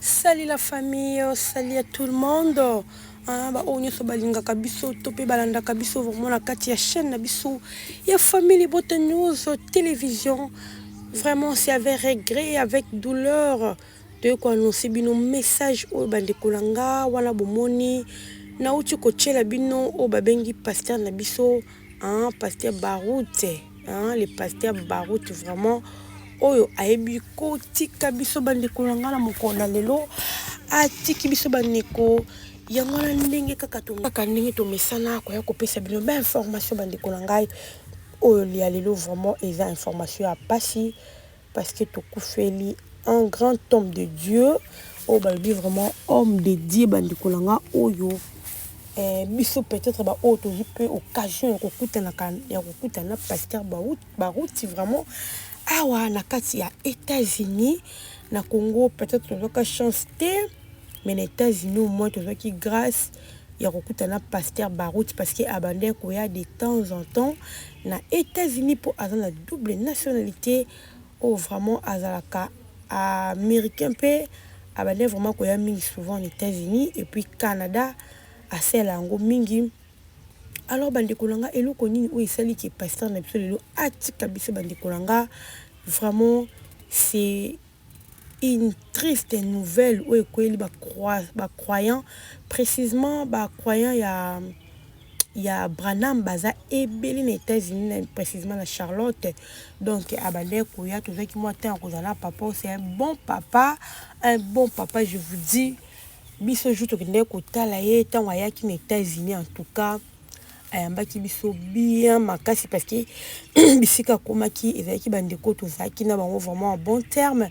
Salut la famille, salut à tout le monde. Ah, ba oyo nyonso balingaka biso to mpe balandaka biso vraiment na kati ya chaîne na biso ya famille Bota News télévision. Vraiment c'est avec regret et avec douleur toye koannonce bino message oyo bandeko na nga wana bomoni nauti kotyela bino oyo babengi pasteur na biso Hein, pasteur Baroute, hein, le pasteur Baroute vraiment oyo ayebi kotika biso bandeko na ngai na mokolo na lelo atiki biso bandeko yango wana ndenge kaka kaka ndenge tomesana koya kopesa bino bainformation bandeko na ngai oyo ya lelo vraiment eza information ya mpasi parce que tokufeli un grand homme de Dieu oyo balobi vraiment homme de Dieu bandeko na nga oyo eh, biso peut-être ba oyo tozwi mpe occasion ya kokutanaka ya kokutana na pasteur Baruti vraiment awa na kati ya États-Unis na Congo peut-être tozwaka chance te mais na États-Unis au moins tozwaki grâce ya kokuta na pasteur Baruti parce que abandaki koya de temps en temps na Etats-Unis mpo aza na double nationalite oyo vraiment azalaka américain mpe abandaki vraiment koya mingi souvent na Etats-Unis et puis Canada asala yango mingi alors bandeko na nga eloko nini oyo esali ke pasteur na biso lelo atika biso bandeko na nga vraiment c'est Une triste nouvelle oyo ekweyeli ba croyants, precisement ba croyants ya ya Branham baza ebele na Etats-Unis, precisement na Charlotte, donc abandaki koya, tozwaki mua temps ya kozala na papa oyo, c'est un bon papa, un bon papa, je vous dis biso jour tokendeki kotala ye, tango ayaki na Etats-Unis en tout cas. ayambaki biso bien makasi parce que bisika akomaki ezalaki bandeko tozalaki na bango vraiment en bon terme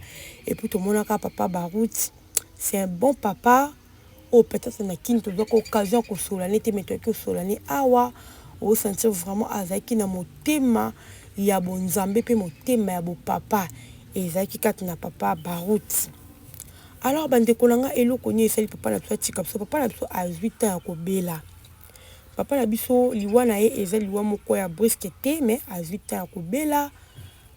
et puis tomonaka papa barout c'est un bon papa oyo oh, peut-être na kini tozwaka occasion ya kosolola ne te me toyaki kosolola ne awa osentir vraiment azalaki na motema ya bonzambe mpe motema ya bopapa ezalaki kati na papa barout alors bandeko na ngai eloko nini esali papa na biso atika biso papa na biso azwi ntan ya kobela Papa na biso liwa na ye eza liwa moko ya brisque te mais azui temps ya kobela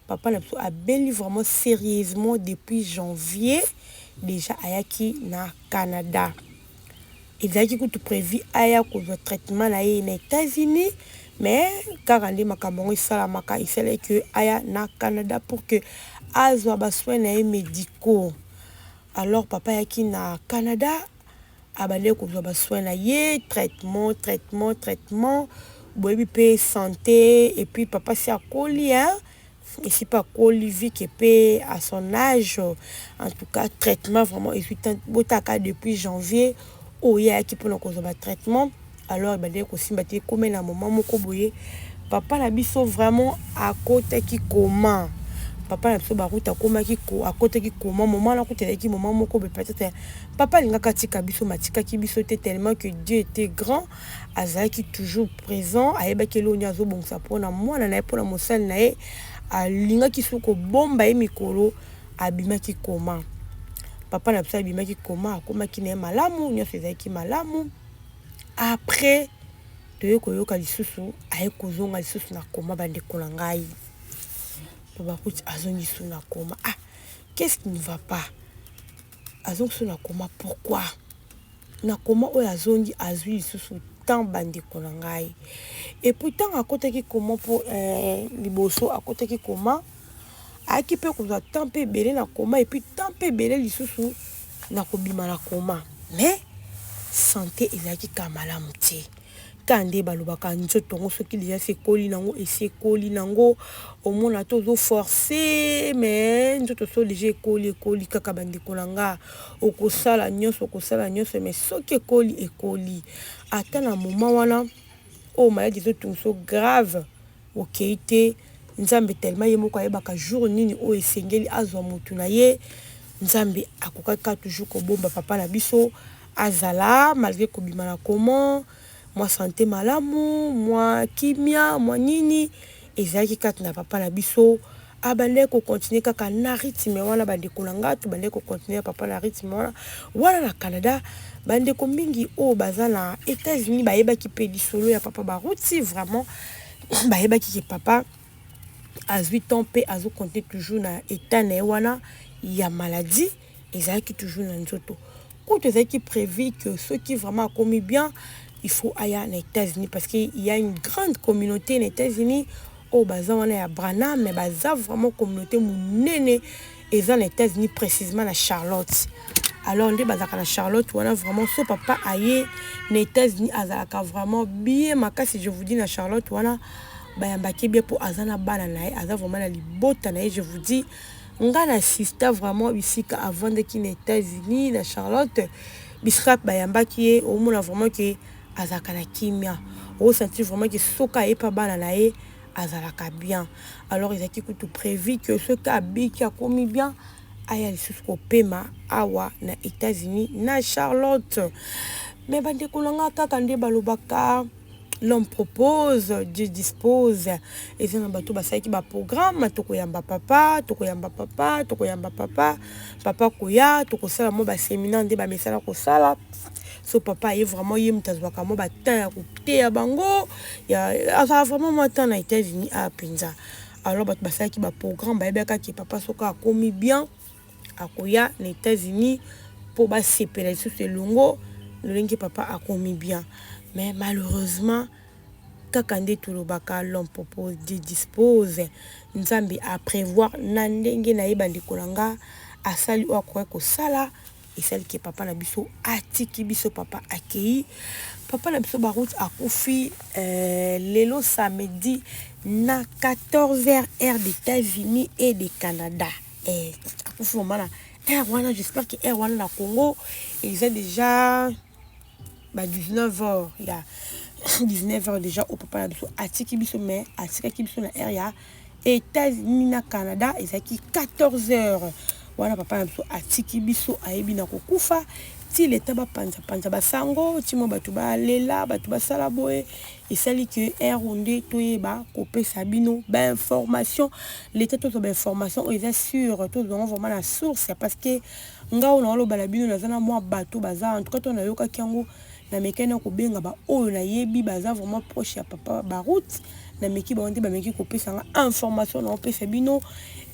papa na biso abeli vraiment serieusement depuis janvier déjà ayaki na Canada ezalaki kutu prévu aya kozwa traitement na ye na États-Unis mais kaka nde makambo yango esalamaka esalaki que aya na Canada pour que azwa ba soins na ye médicaux alors papa ayaki na Canada abandaki kozwa ba soins na ye traitement traitement traitement boyebi mpe sante et puis papa si akoli hein esi mpe akoli vie ke mpe à son âge en tout cas traitement vraiment ezwi botaka depuis janvier oyo ye ayaki mpona kozwa ba traitement alors ebandaki kosimba te ekome na moma moko boye papa na biso vraiment akotaki koma papa na biso baruta akomaki akotaki koma moma wana kuta ezalaki moma moko boye peut-être papa alingaka atika biso matikaki biso te tellement que dieu était grand azalaki toujours présent ayebaki eloo nde azobongisa mpona mwana na ye mpona mosali na ye alingaki soki kobomba ye mikolo abimaki koma papa na biso abimaki koma akomaki na ye malamu nyonso ezalaki malamu Après toye koyoka lisusu aye kozonga lisusu na coma ba ndeko na ngai baloba kuti azongi lisusu na coma ah qu'est ce qui ne va pas azongi lisusu na coma pourquoi? Na coma oyo azongi azui lisusu temps ba ndeko na ngai et puis tango akotaki coma po liboso akotaki coma ayaki mpe kozwa temps mpe ebele na koma epuis temps mpe ebele lisusu na kobima na koma mais sante ezalaki ka malamu te ka nde balobaka nzoto yango soki deja se ekoli nango esi ekoli nango omona te ozo force mais nzoto so deja ekoli ekoli kaka bandeko na nga okosala nyonso okosala nyonso mais soki ekoli ekoli ata na moma wana oyo maladi ezotungisa grave Okeyi te nzambe tellement ye moko ayebaka jour nini oyo esengeli azua mutu na ye nzambe akokaki kaka toujours kobomba papa na biso azala malgre kobima na comment mua sante malamu mua kimia mua nini ezalaki kati na papa na biso a bandaki ko continuer kaka na rythme wana ba ndeko na nga to bandaki ko continuer ya papa na rythme wana wana na Canada ba ndeko mingi oyo baza na Etats-Unis ba yebaki pe lisolo ya papa ba route vraiment ba yebaki ke papa azui temps pe azo compter toujours na état na ye wana ya maladie ezalaki toujours na nzoto kutu ezalaki prévu que soki vraiment akomi bien il faut aya na états-unis parce que il y a une grande communauté na états-unis oyo baza wana ya brana mais baza vraiment communauté monene eza na états-unis précisément na charlotte alors nde bazalaka na charlotte wana vraiment so papa aye na états-unis azalaka vraiment bien makasi je vous dis na charlotte wana bayambaki bien mpo aza na bana na ye aza vraiment na libota na ye je vous dis euh, Nga na sista vraiment bisika avandaki na etats unis na charlotte bisika bayambaki ye omona vraiment ke azalaka na kimia osantir vraiment ke soki aye pa bana na ye azalaka bien alors ezalaki kutu prevu ke soki abiki akomi bien aya lisusu kopema awa na etats unis na charlotte me bandeko na nga kaka nde balobaka l'homme propose dieu dispose eza na bato basalaki baprogramme tokoyamba papa tokoyamba papa tokoyamba papa papa koya tokosala mwa baseminaire nde bamesana kosala so papa aye vraiment ye moto azwaka mwa batemp ya koteya bango azwaka vraiment mwa temps na états-unis a mpenza alors bato basalaki baprogramme bayebaka ke papa soki akomi bien akoya na etats unis po basepela lisusu elongo lolenge papa akomi bien mais malheureusement kaka nde tolobaka l'homme propose dieu dispose nzambe a prevoir na ndenge na ye bandeko na nga asali oyo akoki kosala esali ke papa na biso atiki biso papa akei papa na biso baroute akufi euh, lelo samedi na 14 heures heure d'états-unis et de canada eh akufi mama na heure wana j'espère que heure wana na Congo eza déjà ba 19 heures ya 19 heures déjà au papa na biso atiki biso mais atikaki biso na heure ya États-Unis na Canada ezalaki 14 heures wana papa na biso atiki biso ayebi na kokufa ti leta bapanzapanza basango ti mwa bato balela bato basala boye Esali que ero nde toyeba kopesa bino ba information leta tozwa ba information oyo eza sur tozwa yango vraiment na source parce que nga oyo naoloba na bino naza na mwa bato baza en tout cas to nayokaki yango namekani na kobenga baoyo nayebi baza vraiment proche ya papa baroute nameki bango nde bameki kopesa nga information naopesa bino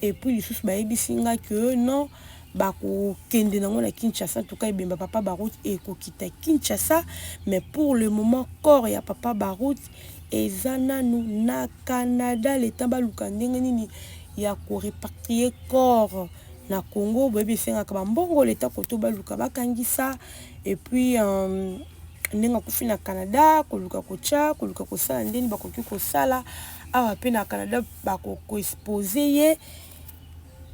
epuis lisusu bayebisi nga que non bakokende nango na Kinshasa tuka ebemba papa Barut ekokita Kinshasa mais pour le moment corps ya papa Barut eza nanu na Canada le temps baluka ndenge nini ya ko repatrier corps na Congo boyebi esengaka bambongo leta koto baluka bakangisa et puis euh, ndenge akufi na Canada koluka kotya koluka kosala ndeni bakoki kosala awa mpe na Canada bakokoexpose ye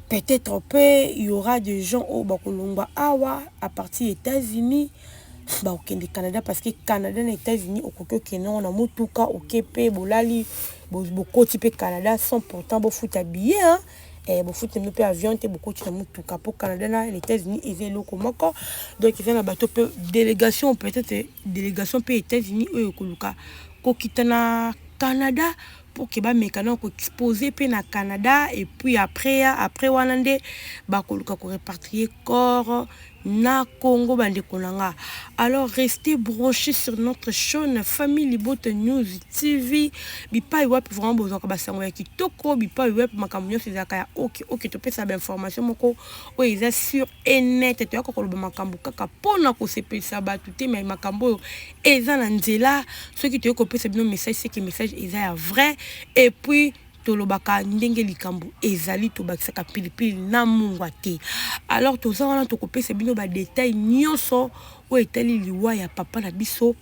Peut etre pe il y aura des gens oyo bako longwa awa à partir ya Etats Unis bako kende Canada parce que Canada na Etats Unis okoki okende nango na mutuka oke pe bolali bokoti pe Canada sans pourtant bo futa billet hein eh bo futa pe avion te bokoti na mutuka po Canada na les Etats Unis eza eloko moko donc eza na bato pe délégation peut être délégation pe Etats Unis oyo koluka kokita na Canada pour que ba meka na ko exposer pe na Canada et puis après ya après wana nde ba koluka ko repatrier corps na Congo bande konanga alors restez branchés sur notre chaîne famille libota news tv bipai wapi vraiment bozwaka basango ya kitoko bipai wapi makambo nyonso ezalaka ya oke oke topesa bainformation moko oyo eza sur e nette toyaka koloba makambo kaka mpo na kosepelisa bato te mai makambo oyo eza na nzela soki toyei kopesa bino message seke message eza ya vrai epuis tolobaka ndenge likambo ezali tobakisaka pilipili na mungwa te alors toza wana tokopesa bino badetail nyonso oyo etali liwa ya papa na biso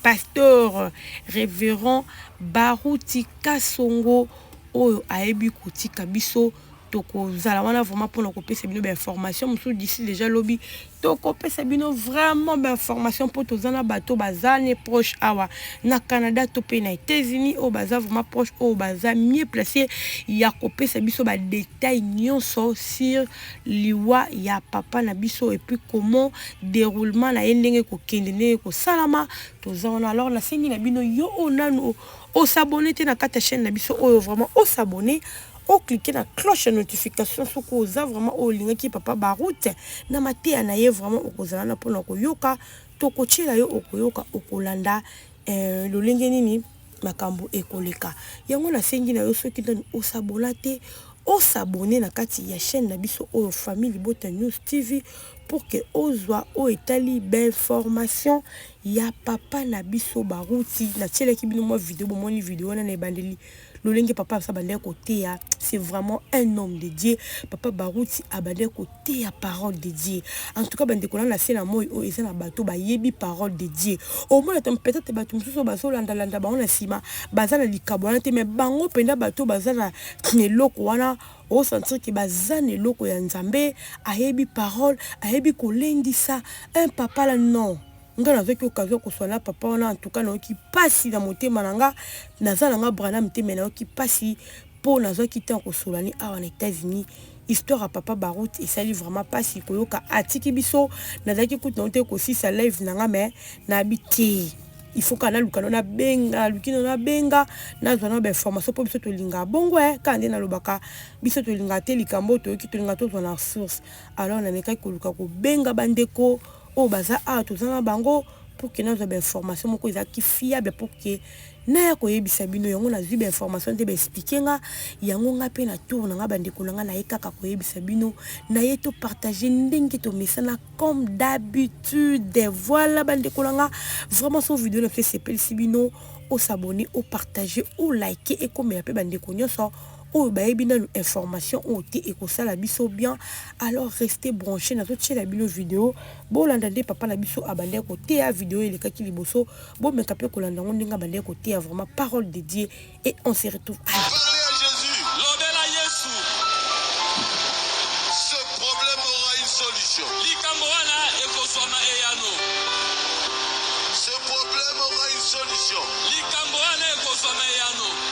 pasteur révérend baruti kasongo oyo ayebi kotika biso tokozala wana vraiment mpona kopesa bino bainformation mosusu d'ici déjà lobi tokopesa bino vraiment bainformation mpo toza na bato baza ne proche awa na canada to mpe na états-unis oyo baza vraiment proche oyo baza mieux place ya kopesa biso badetail nyonso sur liwa ya papa na biso epuis comment déroulement na ye ndenge kokende ndenge kosalama toza wana alors nasengi na bino yo oyo nanu osabone te na kati ya chaîne na biso oyo vraiment osabone o cliquer na cloche ya notification soki oza vraiment oyo olingaki papa Baroute na mateya na ye vraiment okozala na pona koyoka tokotiela yo okoyoka okolanda eh, lolenge nini makambo ekoleka yango nasengi na yo soki nanu osabona te osabone na kati ya chaîne na biso oyo famille libota news tv pour que ozwa oyo etali bainformation ya papa na biso baruti natielaki bino mwa video bomoni video wana na ebandeli lolenge papa biso abandaki koteya c'est vraiment un homme de dieu papa baruti abandaki koteya parole de dieu en tout cas bandeko na na se na moi oyo eza na bato bayebi parole de dieu omona to peut-être bato mosusu bazolandalanda bango na nsima baza na likabo wana te mais bango mpenza bato baza na eloko wana osentir ke baza na eloko ya nzambe ayebi parole ayebi kolendisa un papa la non nga nazoki occasion koswa na papa wana antuka nayoki mpasi na motema na nga naza na nga branam te me nayoki mpasi mpo nazwaki ntango kosola ni awa na états-unis histoire ya papa baroute esali vraiment mpasi koyoka atiki biso nazalaki kutu nango te kosisa live na nga me nayebi te il faut kaka naluka no nabenga naluki no nabenga nazwa no bainformation mpo biso tolingaka bongo e kaka nde nalobaka biso tolingaka te likambo toyoki tolingaka tozwa na source alors namekaki koluka kobenga bandeko oyo baza awa toza na bango pour que nazwa ba information moko ezalaki fiable pour que naya koyebisa bino yango nazwi ba information nde ba explique nga yango nga mpe na tour na nga bandeko na nga naye kaka koyebisa bino naye to partage ndenge tomesana comme d'habitude voilà bandeko na nga vraiment so video na biso esepelisi bino osabone opartage olike ekomela mpe bandeko nyonso oyo bayebi nanu information oyo te ekosala biso bien alors reste branche nazotiela bino video bolanda nde papa na biso abandaki koteya video elekaki liboso bomeka mpe kolanda yango ndenge abandaki koteya vraiment parole de dieu et on se retrouve à...